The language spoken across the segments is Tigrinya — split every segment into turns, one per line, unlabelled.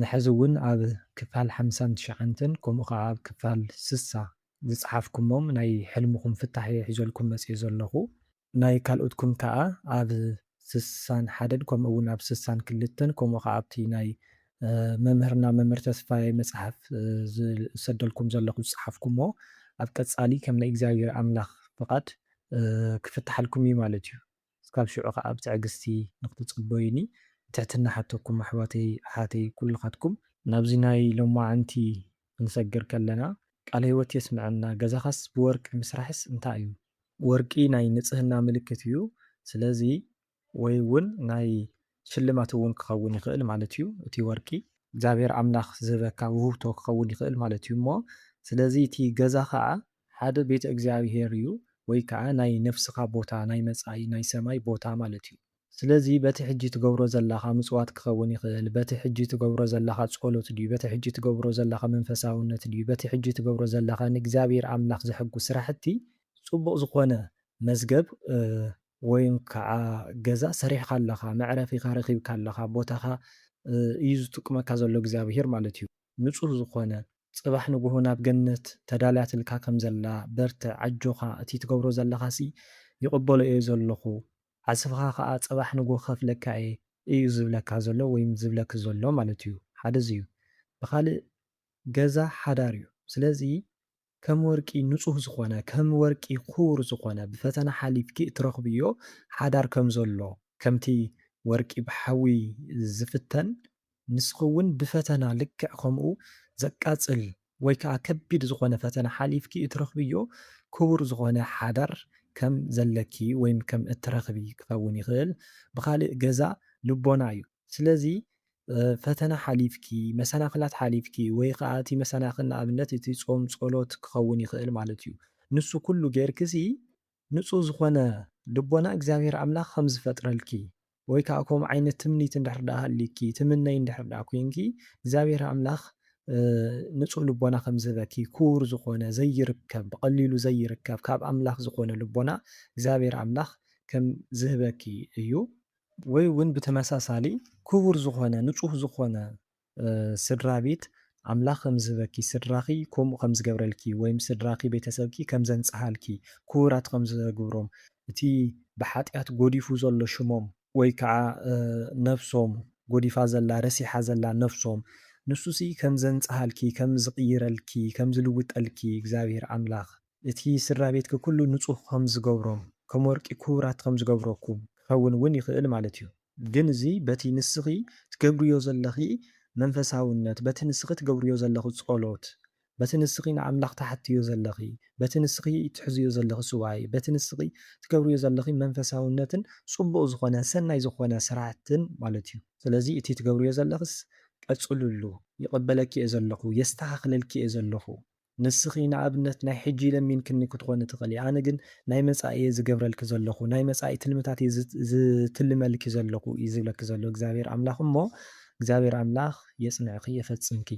ንሕዚ እውን ኣብ ክፋል ሓምሳን ትሽዓንተን ከምኡ ከዓ ኣብ ክፋል ስሳ ዝፀሓፍኩሞም ናይ ሕልምኹም ፍታሕ እየ ሒዘልኩም መፂኤ ዘለኹ። ናይ ካልኦትኩም ከዓ ኣብ ስሳን ሓደን ከምኡ እውን ኣብ ስሳን ክልተን ከምኡ ከዓ ኣብቲ ናይ መምህርና መምህር ተስፋየ መፅሓፍ ዝሰደልኩም ዘለኹ ዝፀሓፍኩሞ ኣብ ቀፃሊ ከም ናይ እግዚኣብሔር ኣምላክ ፍቃድ ክፍታሓልኩም እዩ ማለት እዩ። እስካብ ሽዑ ከኣ ብትዕግስቲ ንክትጽበዩኒ ብትሕትና እሓተኩም ኣሕዋተይ ኣሓተይ ኩልካትኩም። ናብዚ ናይ ሎማዓንቲ ክንሰግር ከለና ቃለ ህይወት የስመዐና ገዛካስ ብወርቂ ምስራሕስ እንታይ እዩ ወርቂ ናይ ንጽህና ምልክት እዩ ስለዚ ወይ እውን ናይ ሽልማት እውን ክኸውን ይኽእል ማለት እዩ እቲ ወርቂ። እግዚኣብሔር ኣምላኽ ዝህበካ ውህብቶ ክኸውን ይኽእል ማለት እዩ እሞ ስለዚ እቲ ገዛ ኸዓ ሓደ ቤተ እግዚኣብሔር እዩ ወይ ከዓ ናይ ነፍስኻ ቦታ ናይ መፃኢ ናይ ሰማይ ቦታ ማለት እዩ። ስለዚ በቲ ሕጂ ትገብሮ ዘላኻ ምፅዋት ክኸውን ይኽእል፣ በቲ ሕጂ ትገብሮ ዘላኻ ፀሎት ድዩ፣ በቲ ሕጂ ትገብሮ ዘላኻ መንፈሳውነት ድዩ፣ በቲ ሕጂ ትገብሮ ዘላኻ ንእግዚኣብሔር ኣምላኽ ዘሕጉስ ስራሕቲ ፅቡቕ ዝኾነ መዝገብ ወይም ካዓ ገዛ ሰሪሕኻ ኣለኻ መዕረፊኻ ረኺብካ ኣለኻ ቦታኻ እዩ ዝጥቁመካ ዘሎ እግዚኣብሄር ማለት እዩ ንፁህ ዝኾነ ፅባሕ ንጉሆ ናብ ገነት ተዳልያትልካ ከም ዘላ በርትዕ ኣጆኻ እቲ ትገብሮ ዘለኻሲ ይቅበሎ እየ ዘለኹ ዓስብኻ ካዓ ፅባሕ ንጉሆ ክኸፍለካ እየ እዩ ዝብለካ ዘሎ ወይም ዝብለኪ ዘሎ ማለት እዩ ሓደ እዚ እዩ ብኻሊእ ገዛ ሓዳር እዩ ስለዚ ከም ወርቂ ንጹህ ዝኾነ ከም ወርቂ ኩቡር ዝኾነ ብፈተና ሓሊፍኪ እትረኽብዮ ሓዳር ከም ዘሎ ከምቲ ወርቂ ብሓዊ ዝፍተን ንስኺ ውን ብፈተና ልክዕ ከምኡ ዘቃጽል ወይ ከኣ ከቢድ ዝኾነ ፈተና ሓሊፍኪ እትረኽብዮ ኩቡር ዝኾነ ሓዳር ከም ዘለኪ ወይም ከም እትረኽቢ ክኸውን ይኽእል ብኻልእ ገዛ ልቦና እዩ ስለዚ ፈተና ሓሊፍኪ፣ መሰናኽላት ሓሊፍኪ፣ ወይ ኸኣ እቲ መሰናኽል ንኣብነት እቲ ጾም ጸሎት ክኸውን ይኽእል ማለት እዩ። ንሱ ኩሉ ጌርኪሲ ንጹህ ዝኾነ ልቦና እግዚኣብሄር ኣምላኽ ከም ዝፈጥረልኪ ወይ ከኣ ከምኡ ዓይነት ትምኒት እንድሕር ደኣ ሃልዩኪ ትምነዪ እንድሕር ደኣ ኮይንኪ እግዚኣብሄር ኣምላኽ ንጹህ ልቦና ከም ዝህበኪ ክቡር ዝኾነ ዘይርከብ ብቐሊሉ ዘይርከብ ካብ ኣምላኽ ዝኾነ ልቦና እግዚኣብሄር ኣምላኽ ከም ዝህበኪ እዩ። ወይ ውን ብተመሳሳሊ ክቡር ዝኾነ ንጹህ ዝኾነ ስድራቤት ኣምላኽ ከም ዝህበኪ ስድራኺ ከምኡ ከም ዝገብረልኪ ወይም ስድራኺ ቤተሰብኪ ከም ዘንጽሃልኪ ክቡራት ከም ዘግብሮም እቲ ብሓጢኣት ጎዲፉ ዘሎ ሽሞም ወይ ከኣ ነፍሶም ጎዲፋ ዘላ ረሲሓ ዘላ ነፍሶም ንሱሲ ከም ዘንጽሃልኪ ከም ዝቕይረልኪ ከም ዝልውጠልኪ እግዚኣብሄር ኣምላኽ እቲ ስድራቤትኪ ኩሉ ንጹህ ከም ዝገብሮ፣ ከም ወርቂ ክቡራት ከም ዝገብረኩም ክኸውን እውን ይኽእል ማለት እዩ። ግን እዚ በቲ ንስኺ ትገብርዮ ዘለኺ መንፈሳውነት፣ በቲ ንስኺ ትገብርዮ ዘለኺ ጸሎት፣ በቲ ንስኺ ንኣምላኽ ትሓትትዮ ዘለኺ፣ በቲ ንስኺ ትሕዝዮ ዘለኺ ሱባኤ፣ በቲ ንስኺ ትገብርዮ ዘለኺ መንፈሳውነትን ጽቡቕ ዝኾነ ሰናይ ዝኾነ ስራሕትን ማለት እዩ። ስለዚ እቲ ትገብርዮ ዘለኽስ ቀጽልሉ፣ ይቕበለኪ እየ ዘለኹ፣ የስተኻኽለልኪ እየ ዘለኹ፣ ንስኺ ንኣብነት ናይ ሕጂ ለሚንክኒ ክትኾኒ ትኽእሊ፣ ኣነ ግን ናይ መጻኢ እየ ዝገብረልኪ ዘለኹ፣ ናይ መጻኢ ትልምታት እየ ዝትልመልኪ ዘለኹ እዩ ዝብለኪ ዘሎ እግዚኣብሄር ኣምላኽ እሞ እግዚኣብሄር ኣምላኽ የጽንዕኺ የፈጽምኪ።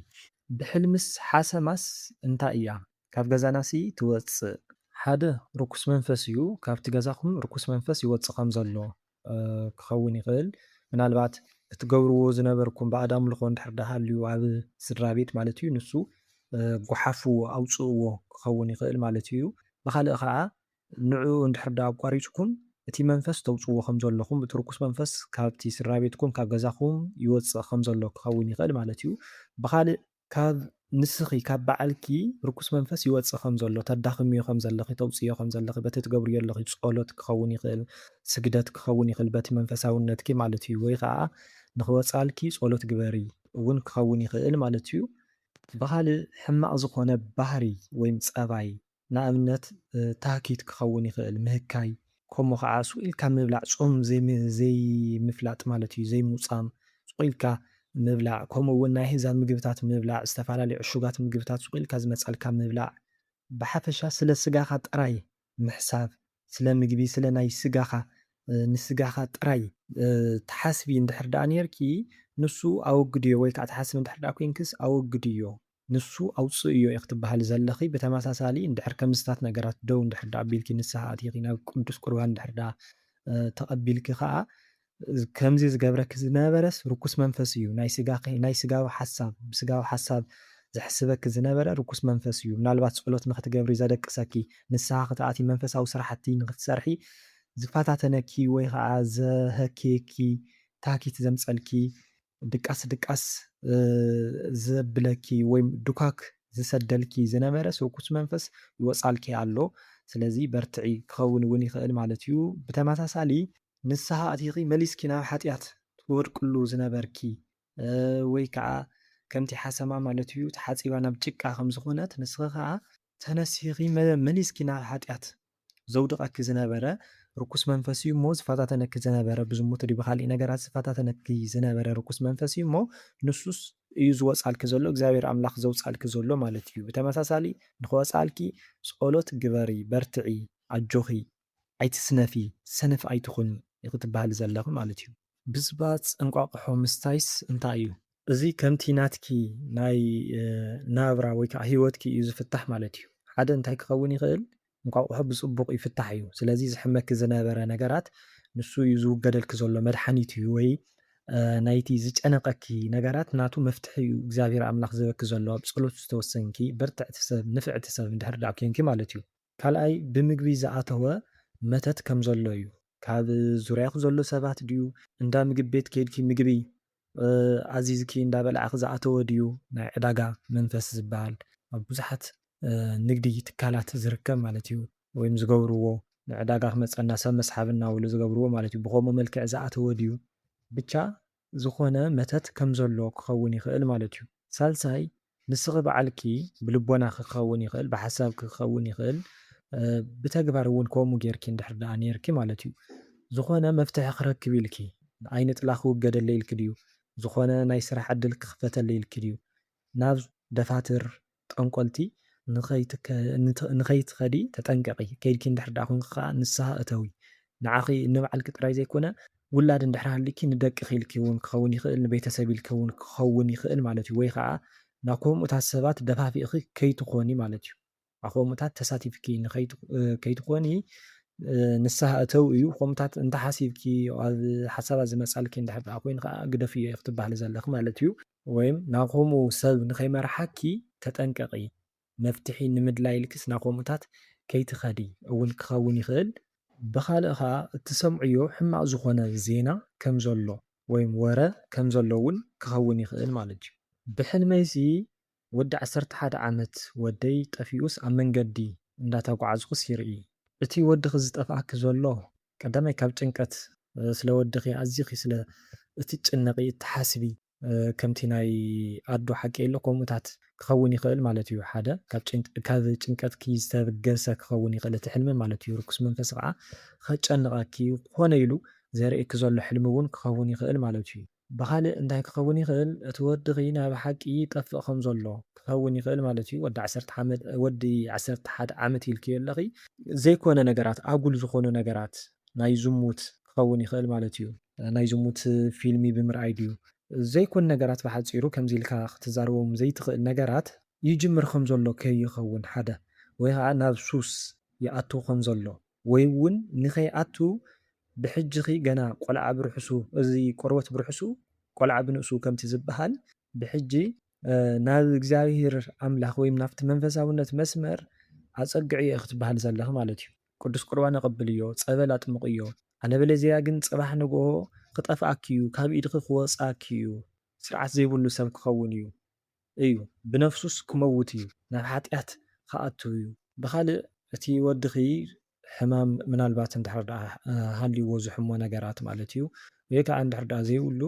ብሕልምስ ሓሰማስ እንታይ እያ ካብ ገዛናሲ ትወጽእ? ሓደ ርኩስ መንፈስ እዩ ካብቲ ገዛኹም ርኩስ መንፈስ ይወጽእ ከም ዘሎ። ክኸውን ይኽእል ምናልባት እትገብርዎ ዝነበርኩም ባእድ ኣምልኾ እንድሕር ደኣ ሃልዩ ኣብ ስድራ ቤት ማለት እዩ ንሱ ጎሓፉ ኣውጽእዎ ክኸውን ይኽእል ማለት እዩ ብኻልእ ከኣ ንዕኡ እንድሕር ደኣ ኣቋሪጽኩም እቲ መንፈስ ተውጽዎ ከም ዘለኹም እቲ ርኩስ መንፈስ ካብቲ ስድራ ቤትኩም ካብ ገዛኹም ይወጽእ ከም ዘሎ ክኸውን ይኽእል ማለት እዩ ብኻልእ ካብ ንስኺ ካብ ባዓልኪ ርኩስ መንፈስ ይወጽእ ከም ዘሎ ተዳኽምዮ ከም ዘለኺ ተውጽእዮ ከም ዘለኺ በቲ ትገብርዮ ኣለኺ ጾሎት ክኸውን ይኽእል ስግደት ክኸውን ይኽእል በቲ መንፈሳውነትኪ ማለት እዩ ወይ ከኣ ንኽወጻልኪ ጾሎት ግበሪ እውን ክኸውን ይኽእል ማለት እዩ። ብኻልእ ሕማቕ ዝኾነ ባህሪ ወይም ጸባይ ንኣብነት ታህኪት ክኸውን ይኽእል፣ ምህካይ። ከምኡ ኸዓ ሱቕ ኢልካ ምብላዕ፣ ጾም ዘይምፍላጥ ማለት እዩ፣ ዘይሙጻም፣ ሱቕ ኢልካ ምብላዕ፣ ከምኡ እውን ናይ ኣህዛብ ምግብታት ምብላዕ፣ ዝተፈላለዩ ዕሹጋት ምግብታት ሱቕ ኢልካ ዝመጻልካ ምብላዕ። ብሓፈሻ ስለ ስጋኻ ጥራይ ምሕሳብ፣ ስለ ምግቢ፣ ስለ ናይ ስጋኻ፣ ንስጋኻ ጥራይ። ትሓስቢ እንድሕር ደኣ ኔርኪ ንሱ ኣወግድዮ ወይ ከዓ ትሓስቢ እንድሕር ደኣ ኮይንክስ ኣወግድዮ። ንሱ ኣውጽእዮ ኢኺ ትበሃሊ ዘለኺ፣ ብተመሳሳሊ እንድሕር ከምዝታት ነገራት ደው እንድሕር ደኣ ኣቢልኪ ንስሓ ኣቲኺ ናብ ቅዱስ ቁርባን እንድሕር ደኣ ተቐቢልኪ ከኣ ከምዚ ዝገብረኪ ዝነበረስ ርኩስ መንፈስ እዩ ናይ ስጋኺ ናይ ስጋዊ ሓሳብ ብስጋዊ ሓሳብ ዘሕስበኪ ዝነበረ ርኩስ መንፈስ እዩ ምናልባት ጸሎት ንኽትገብሪ ዘደቅሰኪ ንስሓ ክትኣትዪ መንፈሳዊ ስራሕቲ ንኽትሰርሒ ዝፈታተነኪ ወይ ከኣ ዘሀኬኪ ታኪት ዘምጸልኪ ድቃስ ድቃስ ዘብለኪ ወይ ዱካክ ዝሰደልኪ ዝነበረ ሱርኩስ መንፈስ ይወጻልኪ ኣሎ ስለዚ በርትዒ ክከውን ውን ይክእል ማለት እዩ ብተመሳሳሊ ንስሃ ኣቲኪ መሊስኪ ናብ ሓጥያት ትወድቅሉ ዝነበርኪ ወይ ከኣ ከምቲ ሓሰማ ማለት እዩ ተሓጺባ ናብ ጭቃ ከም ዝኮነት ንስኪ ከኣ ተነሲሂኺ መሊስኪ ናብ ሓጢኣት ዘውድቐኪ ዝነበረ ርኩስ መንፈስ እዩ እሞ፣ ዝፈታተነኪ ዝነበረ ብዝሙት ድዩ ብኻሊእ ነገራት ዝፈታተነኪ ዝነበረ ርኩስ መንፈስ እዩ እሞ፣ ንሱስ እዩ ዝወጽኣልኪ ዘሎ፣ እግዚኣብሄር ኣምላኽ ዘውጽኣልኪ ዘሎ ማለት እዩ። ብተመሳሳሊ ንኽወጽኣልኪ ጸሎት ግበሪ፣ በርትዒ፣ ኣጆኺ። ኣይትስነፊ ሰነፍ ኣይትኹኒ ኢኺ ትበሃሊ ዘለኺ ማለት እዩ። ብፅባፅ እንቋቑሖ ምስታይስ እንታይ እዩ? እዚ ከምቲ ናትኪ ናይ ናብራ ወይ ከዓ ህይወትኪ እዩ ዝፍታሕ ማለት እዩ። ሓደ እንታይ ክኸውን ይኽእል እንቋቑሖ ብፅቡቕ ይፍታሕ እዩ ስለዚ ዘሕመኪ ዝነበረ ነገራት ንሱ እዩ ዝውገደልኪ ዘሎ መድሓኒት እዩ ወይ ናይቲ ዝጨነቐኪ ነገራት ናቱ መፍትሒ እዩ እግዚኣብሔር ኣምላኽ ዝህበኪ ዘሎ ኣብ ፀሎት ዝተወሰንኪ በርትዕቲ ሰብ ንፍዕቲ ሰብ እንድሕር ደኣ ኴንኪ ማለት እዩ። ካልኣይ ብምግቢ ዝኣተወ መተት ከም ዘሎ እዩ። ካብ ዙርያኺ ዘሎ ሰባት ድዩ እንዳ ምግብ ቤት ኬድኪ ምግቢ ኣዚዝኪ እንዳ በላዕኺ ዝኣተወ ድዩ ናይ ዕዳጋ መንፈስ ዝብሃል ኣብ ብዙሓት ንግዲ ትካላት ዝርከብ ማለት እዩ ወይም ዝገብርዎ ንዕዳጋ ክመጸና ሰብ መስሓብ እናበሉ ዝገብርዎ ማለት እዩ ብኸምኡ መልክዕ ዝኣተወ ድዩ ብቻ ዝኾነ መተት ከም ዘሎ ክኸውን ይኽእል ማለት እዩ። ሳልሳይ ንስኺ ባዕልኪ ብልቦናኺ ክኸውን ይኽእል፣ ብሓሳብኪ ክኸውን ይኽእል፣ ብተግባር እውን ከምኡ ጌርኪ እንድሕር ደኣ ኔርኪ ማለት እዩ፣ ዝኾነ መፍትሒ ክረክብ ኢልኪ፣ ኣይንጥላ ክውገደለይ ኢልኪ ድዩ፣ ዝኾነ ናይ ስራሕ ዕድል ክኽፈተለይ ኢልኪ ድዩ፣ ናብ ደፋትር፣ ጠንቆልቲ፣ ንኸይትኸዲ ተጠንቀቒ፣ ከይድኪ እንድሕር ደኣ ኮንኪ ከኣ ንስሃ እተዊ፣ ንዓኺ ንባዕልኪ ጥራይ ዘይኮነ፣ ውላድ እንድሕር ሃልዩኪ ንደቅኺ ኢልኪ ውን ክኸውን ይኽእል፣ ንቤተሰብ ኢልኪ ውን ክኸውን ይኽእል ማለት ዩ፣ ወይ ኸኣ ናብ ኮምኡታት ሰባት ደፋፊእኺ ከይትኾኒ ማለት ዩ። ኣብ ኮምኡታት ተሳቲፍኪ ከይትኾኒ ንስሃ እተው እዩ፣ ኮምኡታት እንተሓሲብኪ ኣብ ሓሳባት ዝመጻልኪ እንድሕር ደኣ ኮይኑ ኸኣ ግደፍዮ ኢኺ ትባሃሊ ዘለኺ ማለት ዩ። ወይም ናብ ኮምኡ ሰብ ንኸይመርሓኪ ተጠንቀቒ፣ መፍትሒ ንምድላይ ኢልኪስ ናብ ከምኡታት ከይትኸዲ እውን ክኸውን ይኽእል። ብኻልእ ከኣ እትሰምዕዮ ሕማቕ ዝኾነ ዜና ከም ዘሎ ወይም ወረ ከም ዘሎ እውን ክኸውን ይኽእል ማለት እዩ። ብሕልመይሲ ወዲ ዓሰርተ ሓደ ዓመት ወደይ ጠፊኡስ ኣብ መንገዲ እንዳተጓዓዝኩስ ይርኢ። እቲ ወድኺ ዝጠፍኣኪ ዘሎ ቀዳማይ ካብ ጭንቀት ስለ ወድኺ ኣዚኺ ስለ እትጭነቒ እትሓስቢ፣ ከምቲ ናይ ኣዱ ሓቂ ኢሎ ከምኡታት ክኸውን ይኽእል ማለት እዩ ሓደ ካብ ጭንቀትኪ ዝተብገሰ ክኸውን ይኽእል እቲ ሕልሚ ማለት እዩ ርኩስ መንፈስ ኸኣ ኸጨንቐኪ እዩ ኮነ ኢሉ ዘርእየኪ ዘሎ ሕልሚ እውን ክኸውን ይኽእል ማለት እዩ። ብኻልእ እንታይ ክኸውን ይኽእል እቲ ወድኺ ናይ ብሓቂ ይጠፍእ ከም ዘሎ ክኸውን ይኽእል ማለት እዩ ወዲ ዓሰርተ ሓመት ወዲ ዓሰርተ ሓደ ዓመት ኢልክዮ ኣለኺ ዘይኮነ ነገራት ኣጉል ዝኾኑ ነገራት ናይ ዝሙት ክኸውን ይኽእል ማለት እዩ። ናይ ዝሙት ፊልሚ ብምርኣይ ድዩ? ዘይኮን ነገራት ብሓጺሩ ከምዚ ኢልካ ክትዛረቦም ዘይትኽእል ነገራት ይጅምር ከም ዘሎ ከይኸውን ሓደ ወይ ኸኣ ናብ ሱስ ይኣቱ ከም ዘሎ ወይ ውን ንኸይኣቱ ብሕጂኺ ገና ቆልዓ ብርሑሱ እዚ ቆርበት ብርሑሱ ቆልዓ ብንእሱ ከምቲ ዝብሃል ብሕጂ ናብ እግዚኣብሄር ኣምላኽ ወይ ናብቲ መንፈሳውነት መስመር ኣጸግዕዮ ኢኺ ትብሃሊ ዘለኺ ማለት እዩ። ቅዱስ ቁርባን ኣቐብልዮ፣ ጸበል ኣጥምቕዮ፣ ኣለበለዚያ ግን ጽባሕ ንግሆ ክጠፍኣኪ'ዩ፣ ካብ ኢድኺ ክወጽኣኪ'ዩ፣ ስርዓት ዘይብሉ ሰብ ክኸውን'ዩ፣ እዩ፣ ብነፍሱስ ክመውት'ዩ፣ ናብ ሓጢኣት ክኣቱ'ዩ። ብኻልእ እቲ ወድኺ ሕማም ምናልባት እንድሕር ደኣ ሃልዩዎ ዝሕሞ ነገራት ማለት'ዩ፣ ወይ ከኣ እንድሕር ደኣ ዘይብሉ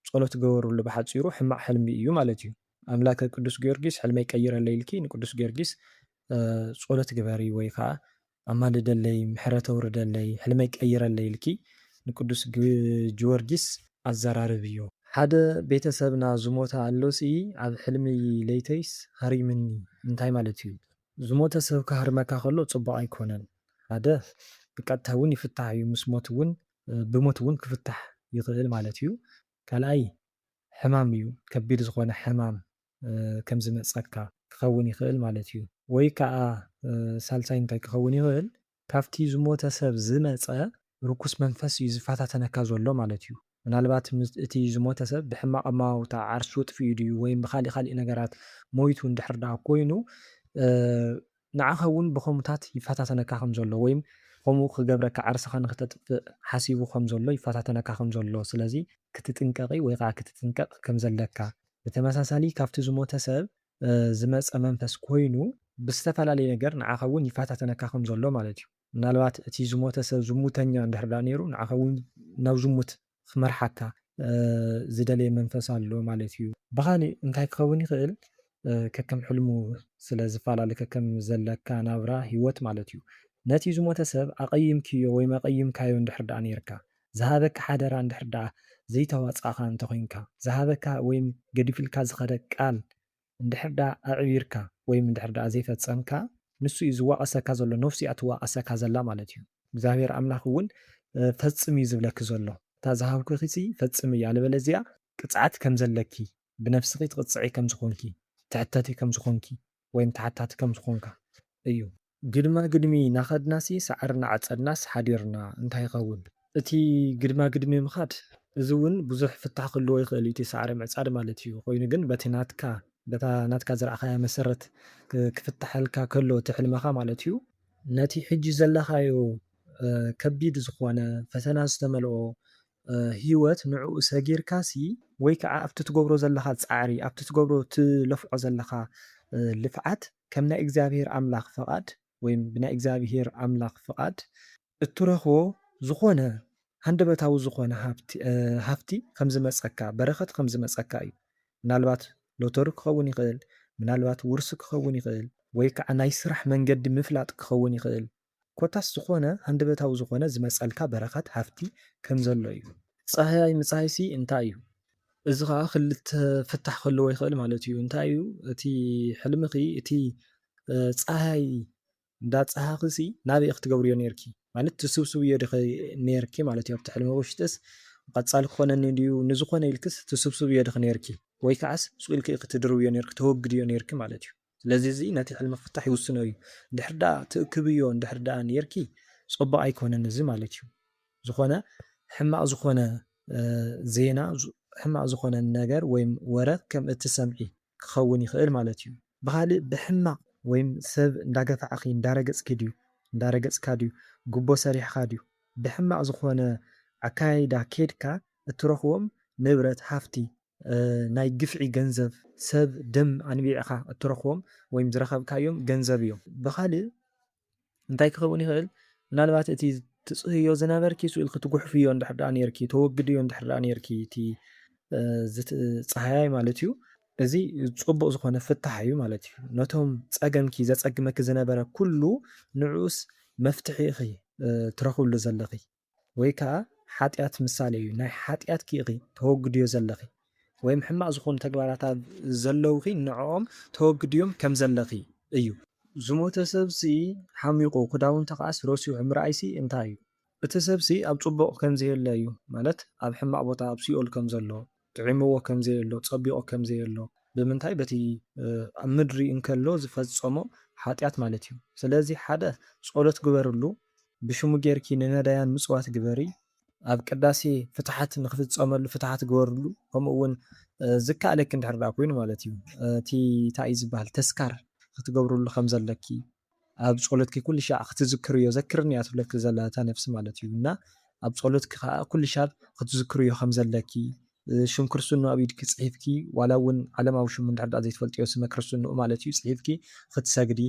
ጸሎት ግበርሉ ብሓጺሩ ሕማቅ ሕልሚ እዩ ማለት እዩ ኣምላከ ቅዱስ ጊዮርጊስ ሕልመይ ቀይረለይ ኢልኪ ንቅዱስ ጊዮርጊስ ጸሎት ግበሪ ወይ ከኣ ኣማልደለይ ምሕረት ኣውርደለይ ሕልመይ ቀይረለይ ኢልኪ ንቅዱስ ጅወርጊስ ኣዘራርብዮ። ሓደ ቤተሰብና ዝሞተ ኣሎ ሲ ኣብ ሕልሚ ለይተይስ ሃሪምኒ እንታይ ማለት እዩ። ዝሞተ ሰብ ክሃርመካ ከሎ ጽቡቅ ኣይኮነን ሓደ ብቀጥታ ውን ይፍታሕ እዩ ምስ ሞት ውን ብሞት እውን ክፍታሕ ይኽእል ማለት እዩ። ካልኣይ ሕማም እዩ፣ ከቢድ ዝኾነ ሕማም ከም ዝመጸካ ክኸውን ይኽእል ማለት እዩ። ወይ ከኣ ሳልሳይ እንታይ ክኸውን ይኽእል ካብቲ ዝሞተ ሰብ ዝመጸ ርኩስ መንፈስ እዩ ዝፈታተነካ ዘሎ ማለት እዩ። ምናልባት እቲ ዝሞተ ሰብ ብሕማቕ ኣመዋውታ ዓርሱ ኣጥፊኡ ድዩ ወይም ብኻሊእ ኻሊእ ነገራት ሞይቱ እንድሕር ደኣ ኮይኑ ንዓኻ እውን ብኸምኡታት ይፈታተነካ ከም ዘሎ ወይም ኸምኡ ኽገብረካ ዓርስኻ ንኽተጥፍእ ሓሲቡ ኸም ዘሎ ይፈታተነካ ኸም ዘሎ ስለዚ ክትጥንቀቒ ወይ ኸዓ ክትጥንቀቕ ከም ዘለካ ብተመሳሳሊ ካብቲ ዝሞተ ሰብ ዝመጸ መንፈስ ኮይኑ ብዝተፈላለየ ነገር ንዓኻ እውን ይፈታተነካ ኸም ዘሎ ማለት እዩ ምናልባት እቲ ዝሞተ ሰብ ዝሙተኛ እንድሕር ድኣ ነይሩ ንዓኻ እውን ናብ ዝሙት ኺመርሓካ ዚደልይ መንፈስ ኣሎ ማለት እዩ። ብኻሊእ እንታይ ኪኸውን ይኽእል ከከም ሕልሙ ስለ ዚፈላለ ከከም ዘለካ ናብራ ህይወት ማለት እዩ ነቲ ዝሞተ ሰብ ኣቐይምክዮ ወይም ኣቐይምካዮ እንድሕር ደኣ ነይርካ ዝሃበካ ሓደራ እንድሕር ደኣ ዘይተዋጻእኻ እንተኾይንካ ዝሃበካ ወይም ገዲፍልካ ዝኸደ ቃል እንድሕር ድኣ ኣዕቢርካ ወይም እንድሕር ድኣ ዘይፈጸምካ ንሱ እዩ ዝዋቐሰካ ዘሎ ነፍሱ እያ ትዋቐሰካ ዘላ ማለት እዩ። እግዚኣብሄር ኣምላኽ እውን ፈጽም እዩ ዝብለኪ ዘሎ እታ ዝሃብኩኺሲ ፈጽምዮ ኣለበለዚያ ቅጽዓት ከም ዘለኪ ብነፍስኺ ትቕጽዒ ከም ዝኾንኪ ትሕተቲ ከም ዝኾንኪ ወይም ተሓታቲ ከም ዝኾንካ እዩ። ግድማ ግድሚ ናኸድናሲ ሳዕሪ ናዓጸድናስ ሓዲርና እንታይ ይኸውን? እቲ ግድማ ግድሚ ምኻድ እዚ ውን ብዙሕ ፍታሕ ክህልዎ ይኽእል እዩ እቲ ሳዕሪ ምዕጻድ ማለት እዩ ኮይኑ ግን በቲ ናትካ በታ ናትካ ዘርኣኻያ መሰረት ክፍታሓልካ ከሎ እቲ ሕልምኻ ማለት እዩ ነቲ ሕጂ ዘለኻዮ ከቢድ ዝኾነ ፈተና ዝተመልኦ ሂወት ንዕኡ ሰጊርካሲ ወይ ካዓ ኣብቲ ትገብሮ ዘለኻ ጻዕሪ ኣብቲ ትገብሮ ትለፍዖ ዘለኻ ልፍዓት ከም ናይ እግዚኣብሄር ኣምላኽ ፍቓድ ወይም ብናይ እግዚኣብሄር ኣምላኽ ፍቓድ እትረኽቦ ዝኾነ ሃንደበታዊ ዝኾነ ሃብቲ ሃፍቲ ከም ዝመጸካ በረኸት ከም ዝመጸካ እዩ ምናልባት ሎቶሪ ክኸውን ይኽእል ምናልባት ውርሲ ክኸውን ይኽእል ወይ ከኣ ናይ ስራሕ መንገዲ ምፍላጥ ክኸውን ይኽእል ኮታስ ዝኾነ ሃንደበታዊ ዝኾነ ዝመጸልካ በረኸት ሃፍቲ ከም ዘሎ እዩ። ጻህያይ ምጻይሲ እንታይ እዩ? እዚ ኸኣ ክልተ ፍታሕ ክህልዎ ይኽእል ማለት እዩ። እንታይ እዩ እቲ ሕልምኺ እቲ ጻህያይ እንዳጻሃኽሲ ናበይ ክትገብርዮ ነይርኪ ማለት ትስብስብዮ ዲኺ ነይርኪ ማለት እዩ ኣብቲ ሕልሚ ውሽጥስ ቀጻሊ ክኾነኒ ድዩ ንዝኾነ ኢልክስ ትስብስብዮ ዲኺ ነይርኪ ወይ ከዓስ ሱቅ ኢልኪ ኢኺ ትድርብዮ ነይርኪ ተወግድዮ ነይርኪ ማለት እዩ። ስለዚ እዚ ነቲ ሕልሚ ፍታሕ ይውስኖ እዩ እንድሕር ደኣ ትእክብዮ እንድሕር ደኣ ኔርኪ ጸቡቅ ኣይኮነን እዚ ማለት እዩ ዝኾነ ሕማቅ ዝኾነ ዜና ሕማቅ ዝኾነ ነገር ወይም ወረ ከም እትሰምዒ ክኸውን ይኽእል ማለት እዩ። ብኻልእ ብሕማቅ ወይም ሰብ እንዳገፋዕኺ እንዳረገጽኪ ድዩ እንዳረገጽካ ድዩ ጉቦ ሰሪሕኻ ድዩ ብሕማቅ ዝኾነ ኣካያይዳ ኬድካ እትረኽቦም ንብረት ሃፍቲ ናይ ግፍዒ ገንዘብ ሰብ ደም ኣንቢዕካ እትረኽቦም ወይም ዝረኸብካዮም ገንዘብ እዮም። ብኻልእ እንታይ ክኸውን ይኽእል? ምናልባት እቲ ትጽህዮ ዝነበርኪ ስኡ ኢልኪ ትጉሕፍዮ እንድሕር ደኣ ኔርኪ፣ ተወግድዮ እንድሕር ደኣ ኔርኪ እቲ ዝትጸሃያይ ማለት እዩ፣ እዚ ጽቡቕ ዝኾነ ፍታሕ እዩ ማለት እዩ። ነቶም ጸገምኪ ዘጸግመኪ ዝነበረ ኩሉ ንዕኡስ መፍትሒ ኢኺ ትረኽብሉ ዘለኺ። ወይ ከኣ ሓጢኣት ምሳሌ እዩ፣ ናይ ሓጢኣትኪ ኢኺ ተወግድዮ ዘለኺ፣ ወይም ሕማቕ ዝኾኑ ተግባራት ኣብ ዘለዉኺ ንዕኦም ተወግድዮም ከም ዘለኺ እዩ። ዝሞተ ሰብሲ ሓሚቑ ክዳውንቱ ከኣስ ረሲዑ ምርኣይሲ እንታይ እዩ? እቲ ሰብሲ ኣብ ጽቡቕ ከም ዘየለ እዩ፣ ማለት ኣብ ሕማቕ ቦታ ኣብ ሲኦል ከም ዘሎ። ጥዒምዎ ከም ዘየሎ፣ ጸቢቑ ከም ዘየሎ፣ ብምንታይ በቲ ኣብ ምድሪ እንከሎ ዝፈጸሞ ሓጢኣት ማለት እዩ። ስለዚ ሓደ ጸሎት ግበርሉ፣ ብሽሙ ጌርኪ ንነዳያን ምጽዋት ግበሪ፣ ኣብ ቅዳሴ ፍትሓት ንኽፍጸመሉ ፍትሓት ግበርሉ፣ ከምኡ ውን ዝከኣለኪ እንድሕር ደኣ ኮይኑ ማለት እዩ እቲ ታይ እዩ ዝብሃል ተስካር ክትገብርሉ ከም ዘለኪ፣ ኣብ ጾሎትኪ ኩሉ ሻዕ ክትዝክርዮ ዘክርኒ እያ ትብለኪ ዘላ እታ ነፍሲ ማለት እዩ እና ኣብ ጾሎትኪ ከኣ ኩሉ ሻብ ክትዝክርዮ ከም ዘለኪ ሽም ክርስትንኡ ኣብ ኢድኪ ጽሒፍኪ ዋላ እውን ዓለማዊ ሽሙ እንድሕር ደኣ ዘይትፈልጥዮ ስመ ክርስትንኡ ማለት እዩ ጽሒፍኪ ክትሰግዲ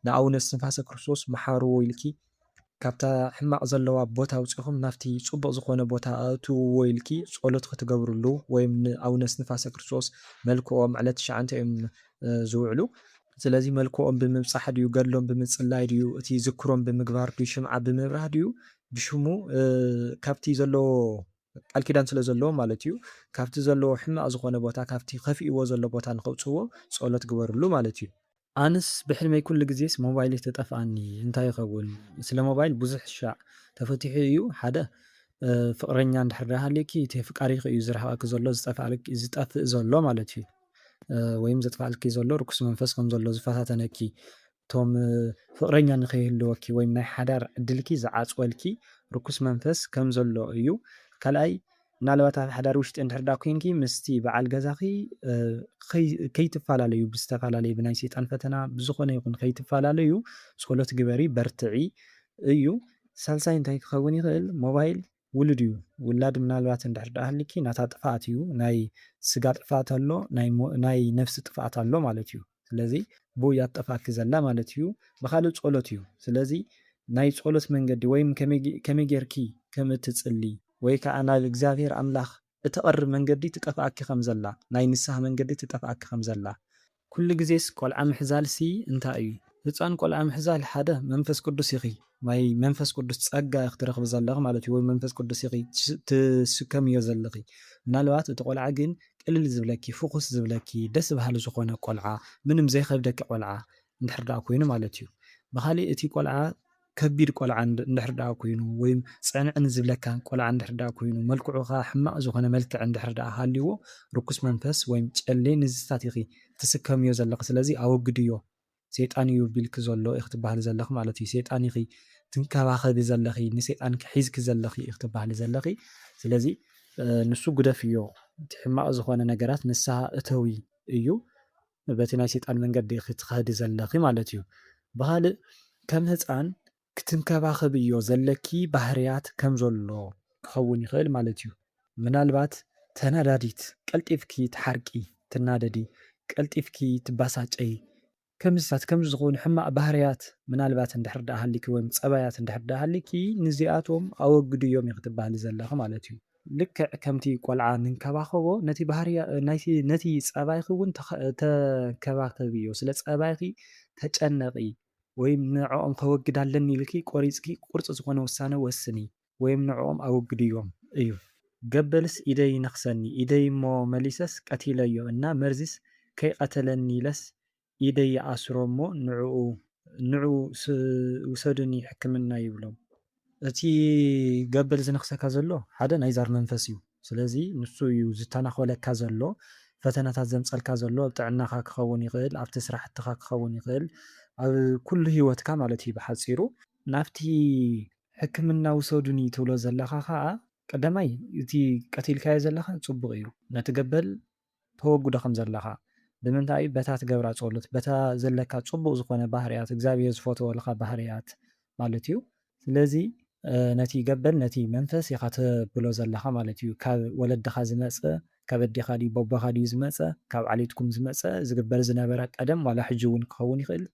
ንኣቡነ እስትንፋሰ ክርስቶስ መሓርዎ ኢልኪ ካብታ ሕማቅ ዘለዋ ቦታ ኣውጺኹም ናብቲ ጽቡቅ ዝኾነ ቦታ ኣእትውዎ ኢልኪ ጾሎት ክትገብርሉ ወይም ን ኣውነ እስንፋሰ ክርስቶስ መልክኦም ዕለት ትሽዓንተ እዮም ዝውዕሉ ስለዚ መልክኦም ብምብጻሕ ድዩ ገድሎም ብምጽላይ ድዩ እቲ ዝክሮም ብምግባር ድዩ ሽምዓ ብምብራህ ድዩ ብሽሙ ካብቲ ዘለዎ ቃልኪዳን ስለ ዘለዎም ማለት እዩ ካብቲ ዘለዎ ሕማቅ ዝኾነ ቦታ ካብቲ ከፊእዎ ዘሎ ቦታ ንከውጽዎ ጾሎት ግበርሉ ማለት እዩ። ኣንስ ብሕልመይ ኩሉ ግዜስ ሞባይለይ ተጠፍኣኒ እንታይ ይከውን ስለ ሞባይል ቡዙሕ ሻዕ ተፈቲሑ እዩ ሓደ ፍቅረኛ እንድሕር ድኣ ሃልዩኪ እቲ ኣፍቃሪኪ እዩ ዝርሕቀኪ ዘሎ ዝጠፍኣልኪ ዝጠፍእ ዘሎ ማለት እዩ ወይም ዘጥፍኣልኪ ዘሎ ርኩስ መንፈስ ከም ዘሎ ዝፈታተነኪ እቶም ፍቅረኛ ንከይህልወኪ ወይም ናይ ሓዳር ዕድልኪ ዝዓጽወልኪ ርኩስ መንፈስ ከም ዘሎ እዩ ካልኣይ ምናልባት ኣብ ሓዳር ውሽጢ እንድሕር ድኣ ኮይንኪ ምስቲ በዓል ገዛኺ ከይትፈላለዩ ብዝተፈላለየ ብናይ ሰይጣን ፈተና ብዝኾነ ይኹን ከይትፈላለዩ ጸሎት ግበሪ በርትዒ እዩ። ሳልሳይ እንታይ ክኸውን ይኽእል ሞባይል ውሉድ እዩ ውላድ ምናልባት እንድሕር ድኣ ሃሊኪ ናታ ጥፍኣት እዩ ናይ ስጋ ጥፍኣት ኣሎ ናይ ነፍሲ ጥፍኣት ኣሎ ማለት እዩ። ስለዚ ብ እያ ትጠፍኣኪ ዘላ ማለት እዩ ብካልእ ፆሎት እዩ ስለዚ ናይ ፆሎት መንገዲ ወይም ከመይ ገይርኪ ከም እትፅሊ ወይ ከዓ ናብ እግዚኣብሔር ኣምላክ እተቅርብ መንገዲ ትጠፍኣኪ ከም ዘላ ናይ ንስሃ መንገዲ ትጠፍኣኪ ከም ዘላ። ኩሉ ግዜስ ቆልዓ ምሕዛልሲ እንታይ እዩ ህፃን ቆልዓ ምሕዛል ሓደ መንፈስ ቅዱስ ይክይ ናይ መንፈስ ቅዱስ ጸጋ ኢኺ ትረኽቢ ዘለኺ ማለት እዩ ወይ መንፈስ ቅዱስ ኢኺ ትስከምዮ ዘለኺ። ምናልባት እቲ ቆልዓ ግን ቅልል ዝብለኪ፣ ፍኹስ ዝብለኪ፣ ደስ በሃሊ ዝኾነ ቆልዓ፣ ምንም ዘይኸብደኪ ቆልዓ እንድሕር ደኣ ኮይኑ ማለት እዩ። ብኻሊእ እቲ ቆልዓ ከቢድ ቆልዓ እንድሕር ደኣ ኮይኑ ወይ ጽዕንዕን ዝብለካ ቆልዓ እንድሕር ደኣ ኮይኑ፣ መልክዑ ከኣ ሕማቕ ዝኾነ መልክዕ እንድሕር ደኣ ሃልይዎ፣ ርኩስ መንፈስ ወይ ጨሌ ንዝታት ኢኺ ትስከምዮ ዘለኺ ስለዚ ኣወግድዮ ሴጣን እዩ ቢልኪ ዘሎ ኢኪ ትባሃሊ ዘለኪ ማለት እዩ ሴጣን ኢኪ ትንከባከቢ ዘለኪ ንሴጣንኪ ሒዝኪ ዘለኪ ኢኪ ትባሃሊ ዘለኪ ስለዚ ንሱ ጉደፍዮ እቲ ሕማቅ ዝኮነ ነገራት ንስሃ እተዊ እዩ በቲ ናይ ሴጣን መንገዲ ኢኪ ትከዲ ዘለኪ ማለት እዩ ብካልእ ከም ህጻን ክትንከባኸብዮ ዘለኪ ባህርያት ከም ዘሎ ክኸውን ይኽእል ማለት'ዩ። ምናልባት ተናዳዲት፣ ቀልጢፍኪ ትሓርቂ፣ ትናደዲ፣ ቀልጢፍኪ ትበሳጨዪ፣ ከምዚታት ከምዚ ዝኾኑ ሕማቕ ባህርያት ምናልባት እንድሕር ደኣ ሃሊኪ ወይም ጸባያት እንድሕር ደኣ ሃሊኪ ንዚኣቶም ኣወግድዮም ኢኺ ትበሃሊ ዘለኺ ማለት'ዩ። ልክዕ ከምቲ ቆልዓ ንንከባኸቦ ነቲ ባህርያት ነቲ ጸባይኪ'ውን ተንከባኸብዮ፣ ስለ ጸባይኪ ተጨነቒ፣ ወይ ንዕኦም ከወግድ ኣለኒ ኢልኪ ቆሪጽኪ ቁርጽ ዝኾነ ውሳነ ወስኒ ወይም ንዕኦም ኣወግድዮም እዩ። ገበልስ ኢደይ ይነኽሰኒ ኢደይ እሞ መሊሰስ ቀቲለዮ እና መርዚስ ከይቀተለኒ ኢለስ ኢደይ ይኣስሮ እሞ ንዕኡ ንዑ ውሰዱኒ ሕክምና ይብሎም። እቲ ገበል ዝነኽሰካ ዘሎ ሓደ ናይ ዛር መንፈስ እዩ። ስለዚ ንሱ እዩ ዝተናኾለካ ዘሎ፣ ፈተናታት ዘምጸልካ ዘሎ ኣብ ጥዕናኻ ክኸውን ይኽእል፣ ኣብቲ ስራሕትኻ ክኸውን ይኽእል፣ ኣብ ኩሉ ሂወትካ ማለት እዩ ብሓጺሩ። ናብቲ ሕክምና ውሰዱኒ ትብሎ ዘለኻ ከኣ ቀዳማይ እቲ ቀቲልካዮ ዘለኻ ጽቡቕ እዩ፣ ነቲ ገበል ተወግዶ ከም ዘለኻ ብምንታይ እዩ በታ ትገብራ ጾሎት በታ ዘለካ ጽቡቅ ዝኮነ ባህርያት እግዛብሄር ዝፈትወልኻ ባህርያት ማለት እዩ ስለዚ ነቲ ገበል ነቲ መንፈስ ኢኻ ተብሎ ዘለኻ ማለት እዩ ካብ ወለድኻ ዝመጸ ካብ ኣዴኻ ድዩ ቦቦኻ ድዩ ዝመጸ ካብ ዓሌትኩም ዝመጸ ዝግበር ዝነበረ ቀደም ዋላ ሕጂ ውን ክኸውን ይኽእል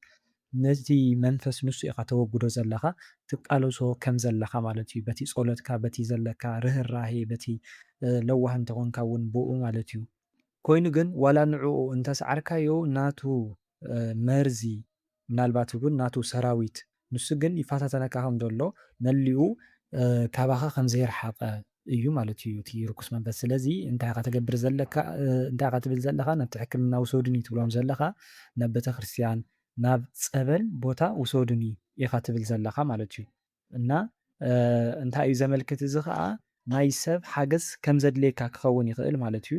ነቲ መንፈስ ንሱ ኢኻ ተወግዶ ዘለኻ ትቃለሶ ከም ዘለኻ ማለት እዩ በቲ ጾሎትካ በቲ ዘለካ ርህራሄ በቲ ለዋህ እንተ ኮንካ ውን ብኡ ማለት እዩ። ኮይኑ ግን ዋላ ንዕኡ እንተ ሰዓርካዮ ናቱ መርዚ ምናልባት ውን ናቱ ሰራዊት ንሱ ግን ይፋታተነካ ከም ዘሎ መሊኡ ካባኻ ከም ዘይረሓቀ እዩ ማለት እዩ እቲ ርኩስ መንፈስ ስለዚ እንታይ ኢኻ ተገብር ዘለካ እንታይ ኢኻ ትብል ዘለኻ ናብቲ ሕክምና ውሰዱኒ ትብሎም ዘለኻ ናብ ቤተክርስትያን ናብ ጸበል ቦታ ውሰዱኒ ኢኻ ትብል ዘለኻ ማለት እዩ እና እንታይ እዩ ዘመልክት እዚ ከዓ ናይ ሰብ ሓገዝ ከም ዘድልየካ ክኸውን ይኽእል ማለት እዩ